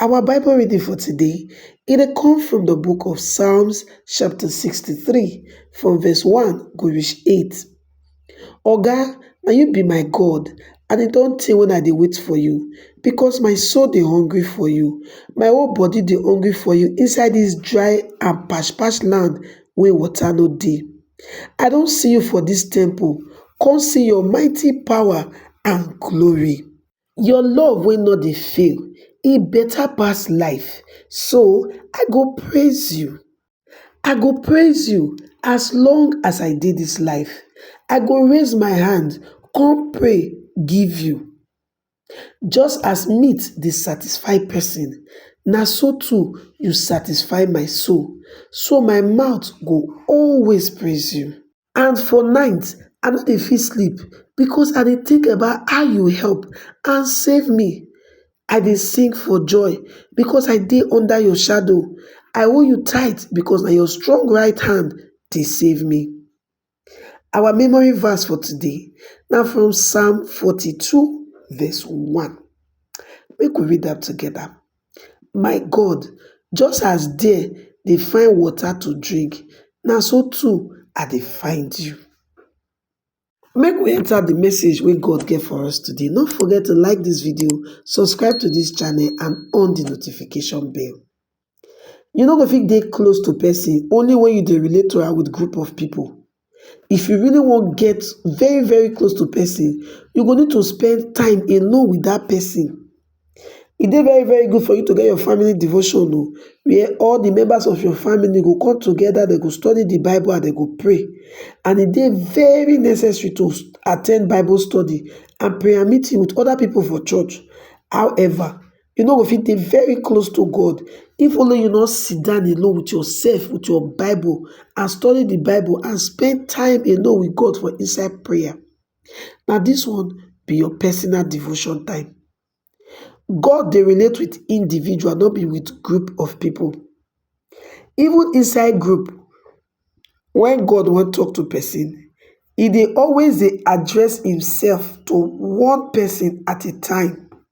Our Bible reading for today, e dey come from the book of Psalms chapter 63 from verse 1 go reach 8. Oga, na you be my God, and e don tey when I dey wait for you, because my soul dey hungry for you, my whole body dey hungry for you inside this dry and patch patch land wey water no dey. I don see you for this temple, come see your mighty power and glory. your love wey no dey fail e beta pass life so i go praise you i go praise you as long as i dey dis life i go raise my hand kon pray give you just as meat dey satisfy person na so too you satisfy my soul so my mouth go always praise you and for night i no dey fit sleep becos i dey tink about how you help and save me i dey sing for joy becos i dey under your shadow i hold you tight becos na your strong right hand dey save me our memory verse for today na from psalm forty two verse one make we read am together my god just as dere dey find water to drink na so too i dey find you. Make we enter the message wey God get for us today. No forget to like this video, subscribe to this channel and on the notification bell. You no go fit dey close to person only when you dey relate to am with group of people. If you really wan get very very close to person, you go need to spend time alone with that person. E dey very very good for you to get your family devotion o, oh, where all the members of your family go come together, they go study the Bible and they go pray. And e dey very necessary to attend Bible study and prayer meeting with other people for church. However, You no go fit dey very close to God if only you no sit down alone with yourself, with your Bible and study the Bible and spend time alone with God for inside prayer. Now this one be your personal devotion time. God they relate with individual, not be with group of people. Even inside group, when God want talk to person, he they always they address himself to one person at a time.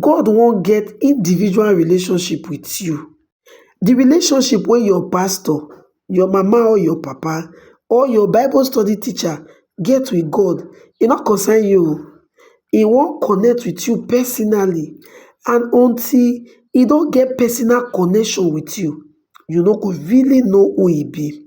God wan get individual relationship with you. The relationship wey your pastor, your mama or your papa or your bible study teacher get with God e no concern you oo. E wan connect with you personally and until e don get personal connection with you, you no go really know who e be.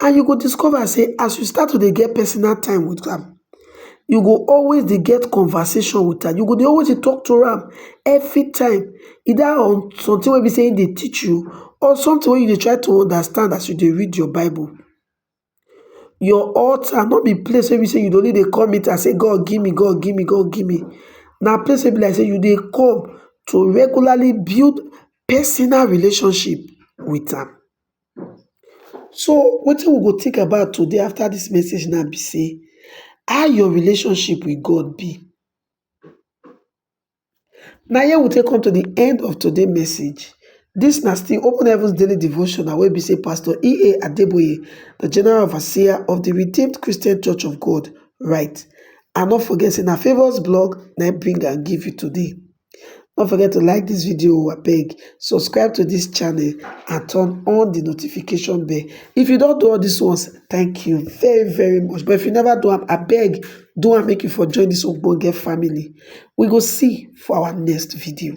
and you go discover say as you start to dey get personal time with am, you go always dey get conversation with am, you go dey always dey talk to am every time either on something wey be say im dey teach you or something wey you dey try to understand as you dey read your bible. Your altar no be place wey be say you dey only dey come meet am say God give me, God give me, God give me, na place wey be like say you dey come to regularly build personal relationship with am. So wetin we go think about today after dis message now be sey how your relationship with God be? Na here we take come to the end of today message. Dis na still Open Heavens Daily Devotional wey be sey Pastor EA Adeboye, the General Overseer of the Redeemed Christian Church of God write. And no forget sey na favours blog na im bring am give you today. No forget to like this video o abeg, subscribe to this channel and turn on the notification bell. If you don't do all these ones, thank you very very much. But if you never do am, abeg do am make you for join this ogbonge family. We go see for our next video.